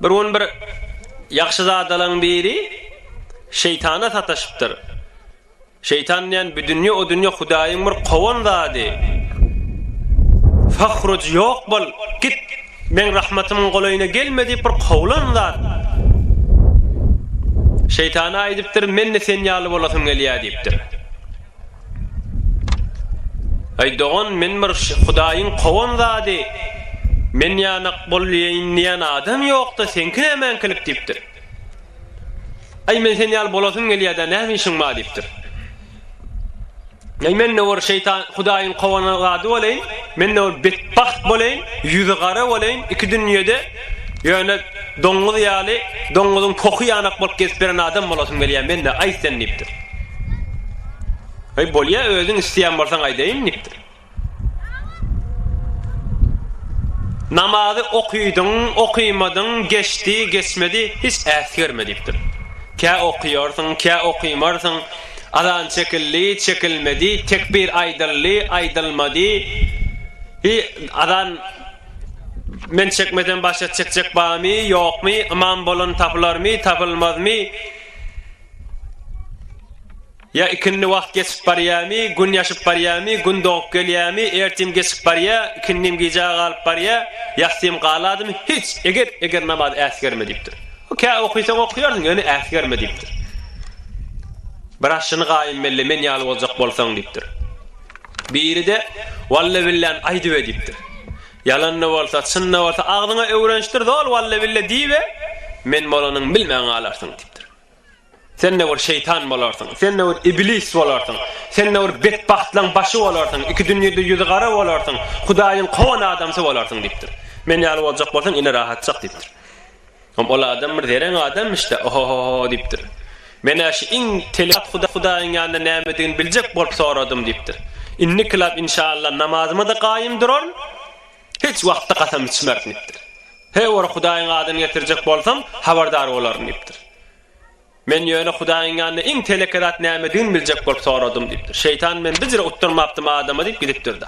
Bir gün bir ýagşyzadalaň biri Şeýtana sataşypdyr. Şeýtan diýen bu dünýe o dünýe Hudaýyň bir kowan zady. Fahruj ýok bol, git. Meň rahmatymyň golaýyna gelme diýip bir kowlan zat. Şeýtana aýdypdyr, men-de sen ýaly bolasym gelýär diýipdir. Aý dogan men bir hudaýyň kowan zady men ýanak bolýaýyn diýen adam ýokda seňki nämeňkilik diýipdir. Aý men sen ýaly bolasym gelýäda näme işiň bar diýipdir. Aý mende bir şeýtan hudaýyň kowan zady bolaýyn mende bir betbagt bolaýyn ýüzi gara bolaýyn iki dünýede Ýöne doňňuz ýaly, doňňuzyň pohy ýanak bolup gezip ýören adam bolasym gelýär men-de, aýt sen, diýipdir. Aý, bolýa, özüň isleýän bolsaň aýdaýyn, diýipdir. Namazy okydyň, okymadyň, geçdi, geçmedi, hiç äsgerme, diýipdir. Kä okýarsyň, kä okymarsyň, azan çekildi, çekilmedi, tekbir aýdyldy, aýdylmady, azan Men çekmesem başga çekjek barmy, ýokmy, ymam bolan tapylarmy, tapylmazmy? Ýa ikindi wagt geçip barýarmy, gün ýaşyp barýarmy, gün dogup gelýärmi, ertim geçip barýar, ikindim gijä galyp barýar, ýassym galadymy, hiç, eger, eger namaz äsgerme diýipdir. Kä okysaň okýarsyň, ýöne äsgerme diýipdir. Bir aşyny gaýym melle men ýaly boljak bolsaň diýipdir. Biri-de, Walla-billäni aýdybe diýipdir. Ýalan-da bolsa, çyn-da bolsa, agzyňa öwrenişdir zol walla-billa diý we men bolanyny bilmän galarsyň diýipdir. Sen-de bir şeýtan bolarsyň, sen-de bir iblis bolarsyň, sen-de bir betbagtlaň başy bolarsyň, iki dünýede ýüzi gara bolarsyň, Hudaýyň kowan adamsy bolarsyň diýipdir. Men ýaly boljak bolsaň, ine rahatjak diýipdir. Hom ol adam bir zereň adamyş-da, oho-ho-ho diýipdir. Men-ä şu iň telat Hudaýyň ýanynda nämedigini biljek bolup soradym diýipdir. Indikilap inşalla namazyma-da gaýym duraryn, hiç wagtda kasam içmerin diýipdir. Her bir Hudaýyň adyny getirjek bolsam, habardar bolaryn diýipdir. Men ýöne Hudaýyň ýanynda iň teleke zat nämedigini biljek bolup soradym diýipdir. Şeýtan men bijre utdurmapdym adama diýip gidipdir-de.